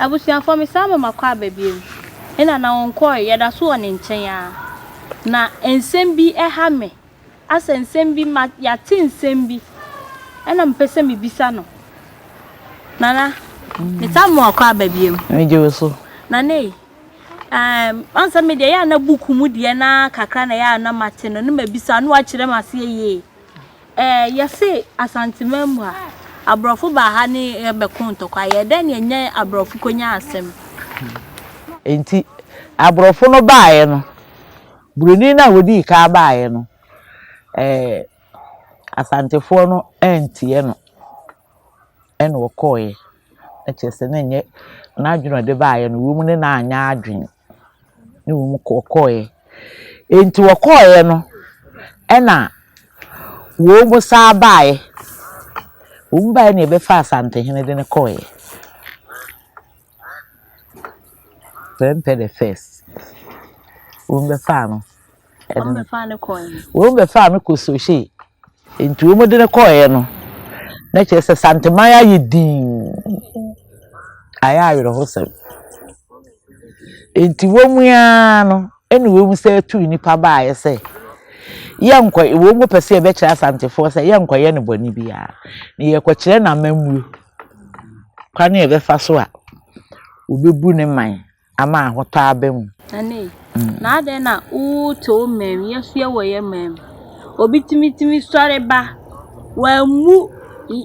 Abusuafoɔ mesan ma makɔ aba biom ɛna na ɔnkɔɔɛ yɛdaso wɔ ne nkyɛn aa na nsɛm bi ɛha me asɛ nsɛm bi ma yɛate nsɛm bi ɛna mepɛ sɛ mebisa no Nana mesan ma wakɔ aba biom. Megye wo so. Nana ei Um, ɔn sɛ me deɛ yɛ a na buku mu deɛ na kakra na yɛ a na mate no, na mabisa no wakyerɛ m aseɛ yie. Eh, yɛse Asanteman mu ha, aborɔfo baa ha ne yɛbɛko ntɔkwa, yɛ dɛn ne ɛnyɛ aborɔfo konya asɛm? Enti aborɔfo no baeɛ no, buroni no a wɔdii kan baeɛ no, eh, Asantefoɔ no antie no. ɛna ɔkɔeɛ. Na kyerɛ sɛ na ɛnyɛ n'adwene a ɔde baeɛ no, wei mu no na anyɛ adwene. Na mmom ɔkɔeɛ. Enti ɔkɔeɛ no, ɛna wɔsan baeɛ. Wɔbaeɛ na wɔbɛfaa Asantehene de no kɔeɛ. Prɛmpɛ the first. Wɔn bɛ faa no. Wɔn bɛ faa no kɔɛ. Wɔn bɛ faa no kɔ sohyɛ. Nti wɔn de no kɔɛ no. Na kyerɛ sɛ santeman ayɛ dinn. Ayɛ awerɛhosɛm. Nti wɔn ara no ɛna wɔn sɛ tu nipa baayɛ sɛ yɛnkɔ wɔn pɛ sɛ yɛbɛkyerɛ asantefoɔ sɛ yɛnkɔyɛ no bɔne biara. Na yɛkɔkyerɛ no amammuo. kwan a yɛbɛfa so a obebu ne man ama ahotɔ aba mu. Ɛnne, na adɛn na woretɔ wo man mu, yɛsoɛ wɔ yɛn man mu? Obi tumi tumi sɔre ba, wammu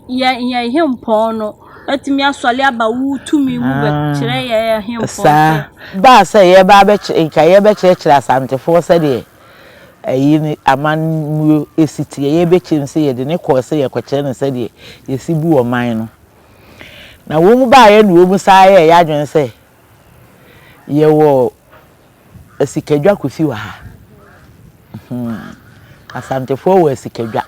yɛn yɛn hempɔn no, atumi asɔre aba wo tumi mu bɛkyerɛ yɛn hempɔn sɛ. Saa baa sɛ yɛba abɛkyerɛ nka yɛbɛkyerɛkyerɛ asantefoɔ sɛdeɛ Eyi ne amanmuo ɛsiteɛ yɛbɛkyɛm sɛ yɛde no kɔɔ sɛ yɛkɔkyerɛ no sɛdeɛ yɛsi bu ɔman no. Na wɔn baeɛ na wɔn san yɛɛ yɛadwene sɛ yɛwɔ asikadwa kofi wɔ ha. Hmm. Asantefoɔ wɔ asikadwa.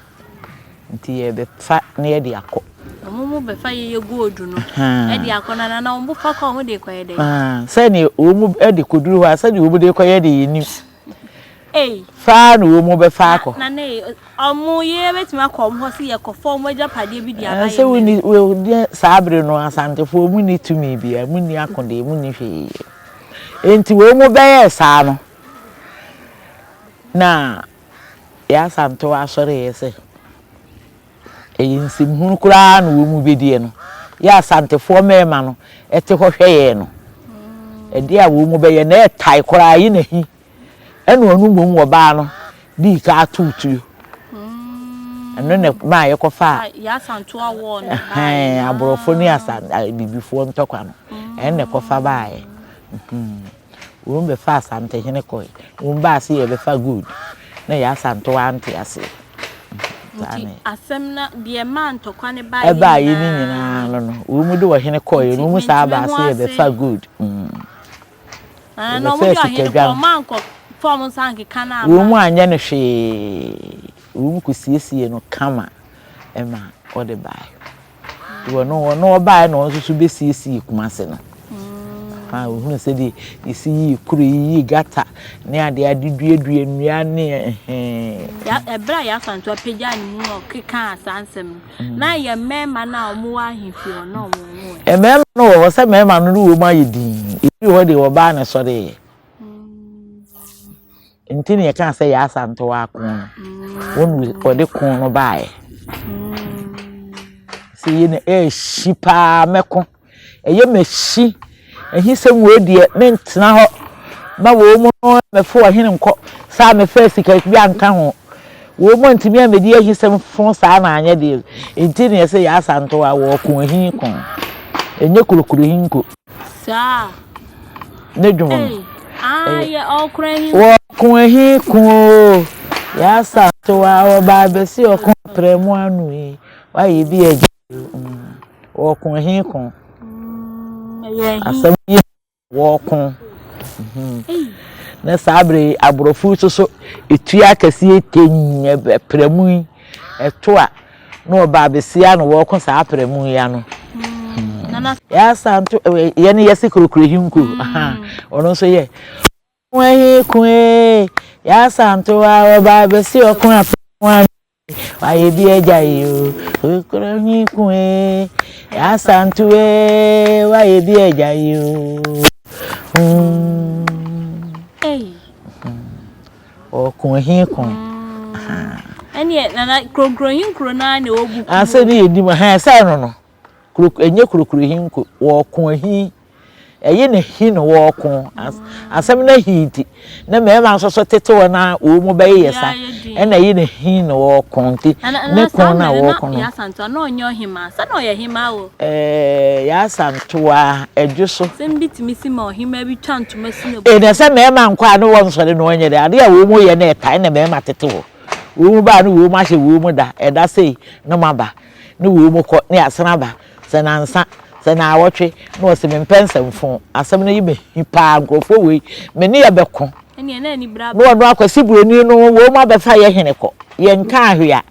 Nti yɛbɛfa na yɛde akɔ. Wɔn mu bɛfa yɛyɛ gold no de akɔ no anaa na wɔn fa kɔ a wɔn de kɔyɛ dɛn? Sɛdeɛ wɔn de kɔduru hɔ a sɛdeɛ wɔn de kɔyɛ de yɛnim. Ei. Faa na wɔn mu bɛfa akɔ. Na na ei, wɔn yere bɛtumi akɔ wɔn hɔ sɛ yɛkɔfa wɔn agyapadeɛ bi de aba yɛn mmerɛ. Sɛ wɔn saa bere no asantefoɔ wɔn ni tumi biara, wɔn ni akodeɛ, wɔn ni hwee. Enti wɔn mu bɛyɛɛ saa no na yɛn asantew asɔre yɛ sɛ. Ɛyɛ nsɛm hunu koraa na wɔn bɛdiɛ no yɛ asantefoɔ mmarima no te hɔ hwɛ yɛn no ɛdeɛ a wɔn bɛyɛ na ɛtae koraa yi na hi ɛna ɔno mmom wɔ baa no dii ka ato tuo ɛno na maa yɛkɔfa aborɔfo ne asan bibifoɔ ntɔkwa no ɛno na ɛkɔfa baeɛ Won bɛ fa asantehene kɔe won baa se yɛ bɛ fa gold na yɛ asantew ante aseɛ saa ne. Nti asɛm na deɛ ɛmaa ntɔkwa no baeɛ nyinaa. Ɛbaeɛ no nyinaa no no won de ɔhene kɔeɛ no won saa baa se yɛ bɛ fa gold mm. Ɛɛ na wɔn de ɔhene kɔ wɔn ankɔ fa wɔn nsa ankeka no ama. Won anyɛ no hwee won kɔ siesiee no kama ɛma ɔde baeɛ. wɔno wɔno ɔbaeɛ na ɔno nso so bɛsiesie kumase no ha ohunu sɛdeɛ yɛsi yii kuro yiyii gata ne adeɛ ade duadua nnua ne ɛhɛn ɛberɛ a yɛafa nto apagya ne mu no kekaa saa nsɛm no mm. na yɛ mmarima no a wɔwɔ ahemfie hɔ na wɔn ho ɛ mmarima no wɔ hɔ sɛ mmarima no ne wɔn ayɛ din ebi wɔ hɔ deɛ wɔbaa na ɛsɔreeɛ Nti na yɛkaa sɛ yɛ asantewɔ ako no. Wɔn wɔde ko no baeɛ. Sɛ yɛ na ɛrehyi paa mɛko. Ɛyɛ mɛhyi. Ɛhi sɛ wɔn deɛ mentena hɔ ma wɔn mu no mɛfo ɔhene nkɔ. Saa mɛfɛ sika bi anka ho. Wɔn mu ntumi amɛdi ɛhi sɛ mfo saa na anyɛ deɛ. Nti na yɛ sɛ yɛ asantewɔ a wɔko ɛhi ko. Ɛnyɛ kurokuro ɛhi nko. Saa. Ne dwom no. Ayɛ ɔko ahi. Ɔko ahi ko o. Yasa to a ɔba abɛsi ɔko prɛ mu ano yi. Wayɛ bi agya. Ɔko ahi ko. Asɛm yi wɔko. Na saa bere aborɔfo nso so etua akɛseɛ tɛnyɛ prɛ mu yi. Ɛto a na wɔba abɛsia na wɔrekɔ saa aprɛmu yi ano yɛasa nto yɛn no yɛse kurokuro hinko ɔno nso yɛ ɔko ahi ko ee yɛasa nto a wɔba abɛsi ɔko aprɛmu ano wayɛ bi agya yi o kurokuro ahi ko ee yɛasa nto ee wayɛ bi agya yi o. Mm. Hey. Ɔko he ko ahaa. Ɛneɛ Nana, Krokro he nkuro no ara na ɛwɔ book mu o. Asɛm yi yɛ nim ahaa, ɛsɛ no no. Ɛnyɛ Krokro he nko, wɔko ahi. Ɛye ne he no wɔko. Asɛm no ahi nti, ne mmarima nso so tete hɔ no ara wɔn mu bɛyeyɛ sa. Ɛna ɛye ne he no wɔko nti, ne ko no a wɔko no. Nana, Nana Asante, na Yɛ Asante a, na ɔnyɛ ɔhemaa? Sɛ na ɔyɛ hemaa o. Eeii yɛ asan toaa ɛdwo so. Asɛm bi tumi si ma ɔhemaa bi twa ntoma si n'abufuo. Ɛnna sɛ mmarima nkɔ a ne wɔnsɔre na wɔnyɛ dɛn? Adeɛ a wɔn reyɛ no ɛta ɛnna mmarima tete hɔ. Wɔn ba a ne wɔn ahyɛ wɔn da, ɛda sei ne moaba, ne wɔn kɔ, ne yɛasan aba, sɛ nnansa, sɛ nnawɔtwe, na wɔse mempɛ nsɛmfo. Asɛm no ye me hi paa, nkurɔfoɔ wei me ne yɛ bɛko. Ɛnneɛ na anibere aba. Na wɔn akwasiburoni no wɔn abɛfa yɛ hene kɔ, yɛnkaa hwee a.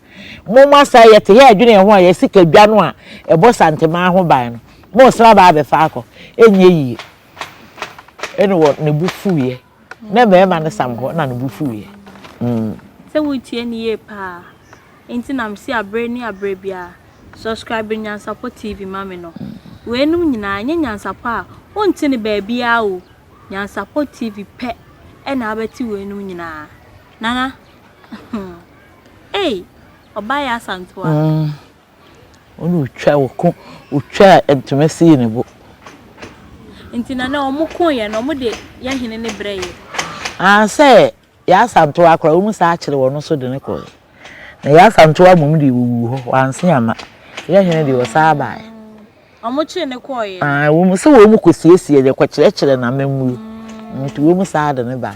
Momma saa yɛte yɛ adwene yɛn ho a yɛasi ka dwa no a ɛbɔ Santemaa ho ban no. Moresra aba abɛfa akɔ. Ɛnyɛ yie. Ɛnna wɔ ne bo fuiɛ. Na mmarima no sam hɔ na ne bo fuiɛ. Mm. Sɛ woretie no yie paa nti na mese abere ne abere biara subscribe Nyansapɔ TV ma me no. Weinom nyinaa ɛnyɛ Nyansapɔ a wonte no baabiara o. Nyansapɔ TV pɛ na wobɛte weinom nyinaa. Nana. Ei ɔbaa yɛ asantewa. Umm ɔne otwa ɔko otwaa ntoma sii ne bo. Nti na nɛ ɔmo ko yɛ no ɔmo de yɛ hene ne brɛ yɛ. Aah sɛ yɛ asantewa koraa ɔmo saa kyere wɔn nso de no kɔɛ na yɛ asantewa mmom deɛ ɔwuu hɔ wanse amma yɛ hene deɛ ɔsaa baɛ. Ɔmo kyere no kɔɔ yɛ. Aah wɔn sɛ wɔn kɔ siesie yɛ kɔ kyerɛkyerɛ na mɛmmuo nti wɔn saa de no baɛ.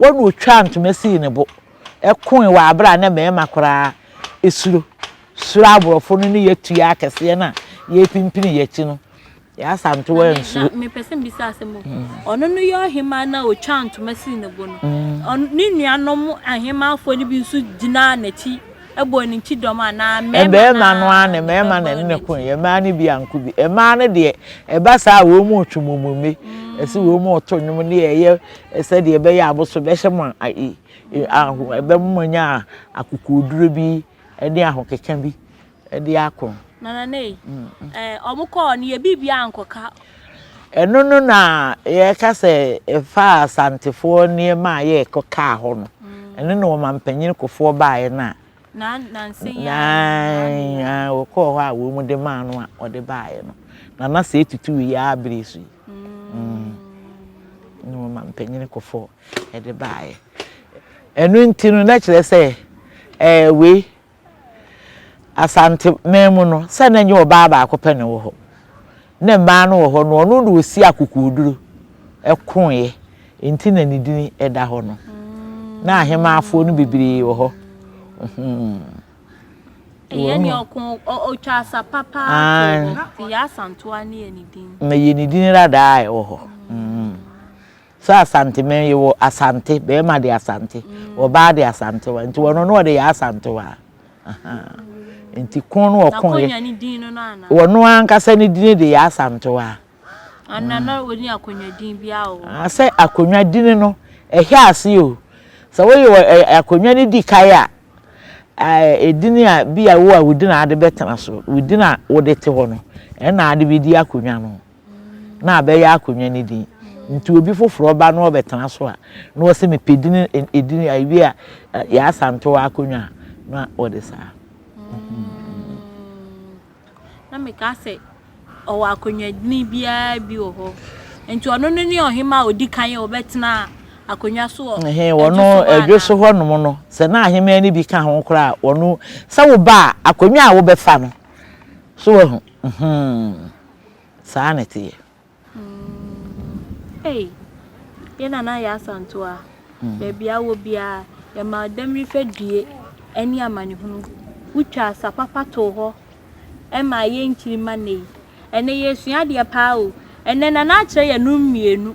Wɔn na ɔtwaa ntoma sii ne bo koe wɔ aberɛ a na mmarima koraa suro suro aborɔfo no ne yɛ tua akɛseɛ no a yɛrepimpini yɛ akyi no. Yɛ Asantewaa ansuro. Na mepɛ sɛ mbisa asɛm o. Mm. Ɔno no yɛ ɔhemaa na ɔtwaa ntoma sii ne bo no. Mm. Ne nuanom ahemaafoɔ no bi nso gyinaa n'akyi ɛbɔɔ ne nkyi dɔm anaa mmarima mmarima no ara na mmarima na ɛne ne ko yɛ mmaa no bi anko bi mmaa no deɛ ɛba saa a wɔn mu retwe mɔmɔme ɛsi wɔn mu reto nnwom ne ɛyɛ sɛdeɛ ɛbɛyɛ a abosom bɛhyɛ mo aho ɛbɛma moanya akokoɔduro bi ne ahokeka bi de ako. Nana Nei, wɔkɔɔ no yɛ biribiara ankɔka. Ɛno no na yɛka sɛ ɛfaa Asantefoɔ nneɛma a yɛkɔkaa hɔ no, ɛno na ɔmampanin kɔfoɔ baeɛ no a Na nnansa yi ara no, saa ne Aane, yɛe. aane, wɔkɔɔ hɔ a wɔn mu de maa no a ɔde baeɛ no, na na saa etutu wei ara bere so yi. Mm. Ɛnna wɔma mpanin kɔfɔɔ de baeɛ. Ɛno nti no, na kyerɛ sɛ ɛɛ wei, Asanteman mu no, sɛ na ɛnyɛ ɔbaa baako pɛ na ɛwɔ hɔ. Ne mmaa no wɔ hɔ no, ɔno na ɔsi akokoɔduro koroeɛ, enti na ne din da hɔ no. Na ahemaafoɔ no bebree wɔ hɔ. Ɛyɛ ne ɔko, ɔtwa asa papa ko, nti Yɛ Asantoa ne yɛ ne din. Na yɛ ne din radaa ɛwɔ hɔ. So Asanteman yi wɔ Asante, bɛɛma de Asante, ɔbaa de Asantewa, nti wɔno no wɔde yɛ Asantewa a, ahaa, nti ko no wɔ ko yɛ, wɔno ankasa ne dini de yɛ Asantewa a. Ana na wɔni akonwa din bi a wɔ? Ah, sɛ akonwa dini no, ɛhɛ ase o, sɛ wɔyɛ akonwa no di kae a, ɛdini a bi a wo a wɔdi na ade bɛtena so, wɔdi na wɔde te hɔ no, ɛna ade bɛdi akonwa no. na abɛyɛ akonnwa no din. Nti obi foforɔ ba na ɔbɛtena so a, na wɔsɛ mepɛ din edin a ebi a Yaa Asantewaa akonnwa a na wɔde saa. Na meka sɛ ɔwɔ akonnwa din biara bi wɔ hɔ. Nti ɔno no ne ɔhema a ɔdi kan a ɔbɛtena akonnwa so wɔ Ɛhe wɔno ɛdwo so hɔnom no sɛ na ahemmaa no bi ka ho koraa wɔno sɛ wo ba a akonnwa a wobɛfa no so wahu. Saa na ɛte yɛ. Ei, yɛ nana yɛ asanto a, baabi a wɔ biara, yɛma Odamiri fadue ne amanehunu. Wotwa asa papa too hɔ ma ayɛ nkyiri ma nnɛ yi. Ɛnnɛ yɛresua adeɛ paa o. Ɛnnɛ Nana akyerɛ yɛn nom mmienu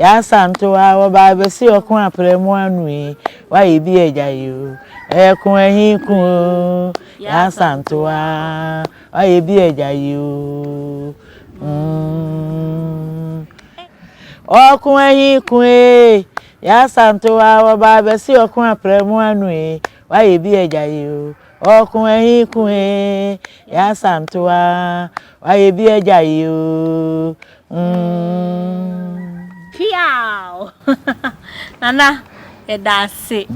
Y'asantewaa wɔ baa besi ɔko aprɛ mu ano yi w'ayɛ bi agya yi o ɛyɛ ko ahi ko o y'asantewaa w'ayɛ bi agya yi o ɔko ahi ko ee y'asantewaa wɔ baa besi ɔko aprɛ mu ano yi w'ayɛ bi agya yi o ɔko ahi ko ee y'asantewaa w'ayɛ bi agya yi o. Piaw! Nana, yɛda ase.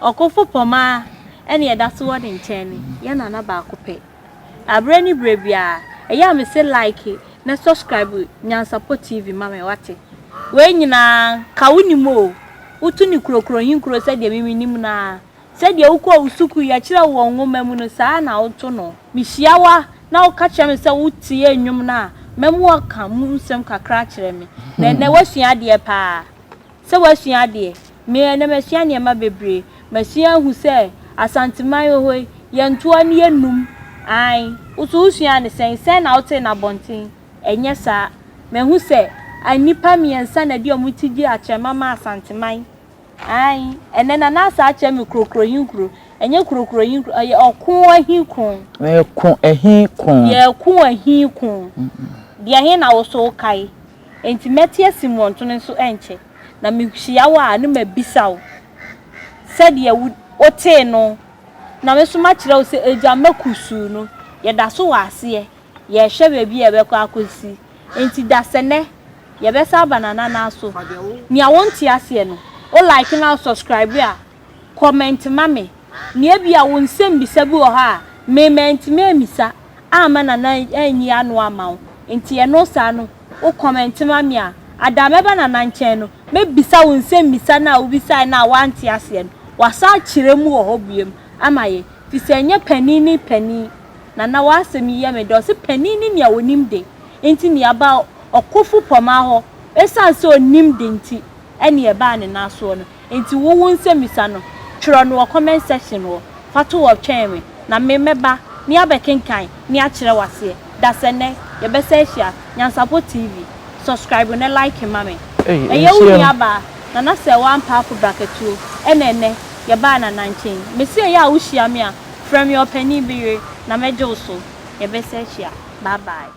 Ɔkofo pɔma ɛne ɛda so wɔ ne nkyɛn ne yɛ nana baako pɛ. Abrɛ ne brɛ biara, ɛyɛ a mese like na subscribe Nyansapɔ TV ma me wate. Wei nyinaa nka wonim o, woto ne kurokuro he nkuro sɛdeɛ me menim no ara. Sɛdeɛ wokɔ wo sukuu yɛkyerɛ wo wɔ nwoma mu no, saa ara na woto no. Mehyia wo a, na woka kyerɛ me sɛ wotie nnwom no a, mɛma woaka mu nsɛm kakra akyerɛ me. Na ɛnnɛ woasua adeɛ pa ara. Sɛ woasua adeɛ? Me, ɛnnɛ masua nneɛma bebree. Masua ahu sɛ Asanteman wɔ hɔ yi, yɛntoa na yɛnnum. Aane. Wo nso wosuaa no sɛn? Sɛn na wotee no abɔnten? Ɛnyɛ saa. Mahu sɛ nnipa mmiɛnsa na ɛde wɔn ti gye akyɛmma ma Asanteman. Aane, ɛnnɛ na n'asa akyɛ me kurokuro he kuro, ɛnyɛ kurokuro he kuro, ɛyɛ ɔko he koo. Yɛɛko he koo. Yɛɛko he koo. Deɛ he na wo so wokae? Nti mɛte asi mmɔntono nso ɛnkyɛ, na mehyia wo a ne mabisa wo sɛdeɛ wotee no, na me nso makyerɛ wo sɛ agya mma kusuu no, yɛda so wɔ aseɛ, yɛɛhwɛ baabi a yɛbɛkɔ akɔsi. Enti dasɛnɛ yɛbɛsa aba nanana so nea wonte aseɛ no wo like na wo subscribe a comment ma me na ebia wo nsɛm bisa bi wɔ hɔ a me mantumi ammisa amma nana anyi ano amma wo enti ɛno saa no wo comment ma me a ada mɛba nana nkyɛn no mɛbisa wo nsɛm bisa no a wobisaɛ no a woante aseɛ no wasa akyerɛ mu wɔ hɔ biom ama yɛn fisɛ ɛnyɛ panin ne panin Nana w'asɛm yi yɛ me dɛ, ɔse panin ne nea ɔnim de nti nea ɛba ɔkofo pɔmaa hɔ ɛsiane sɛ ɔnim de nti ɛne ɛbaa ne nan soɔ no nti wo wo nsɛmmisa no twerɛ no wɔ comment section hɔ fa to hɔ twɛn me na me mɛba ne abɛkenkan ne akyerɛ wo aseɛ dasɛnɛ yɛbɛsɛ ahyia Nyansapɔ TV subscribe ne like ma me ɛyɛ wo nua baa Nana Sɛɛwa Ampaafo Brakatuo ɛna ɛnɛ yɛbaa Nana nkyɛn mese ɛyɛ a wo hyia me a Frɛ me ɔpanin bi yere na mɛgye wo so, yɛbɛsɛ ahyia. Bye bye.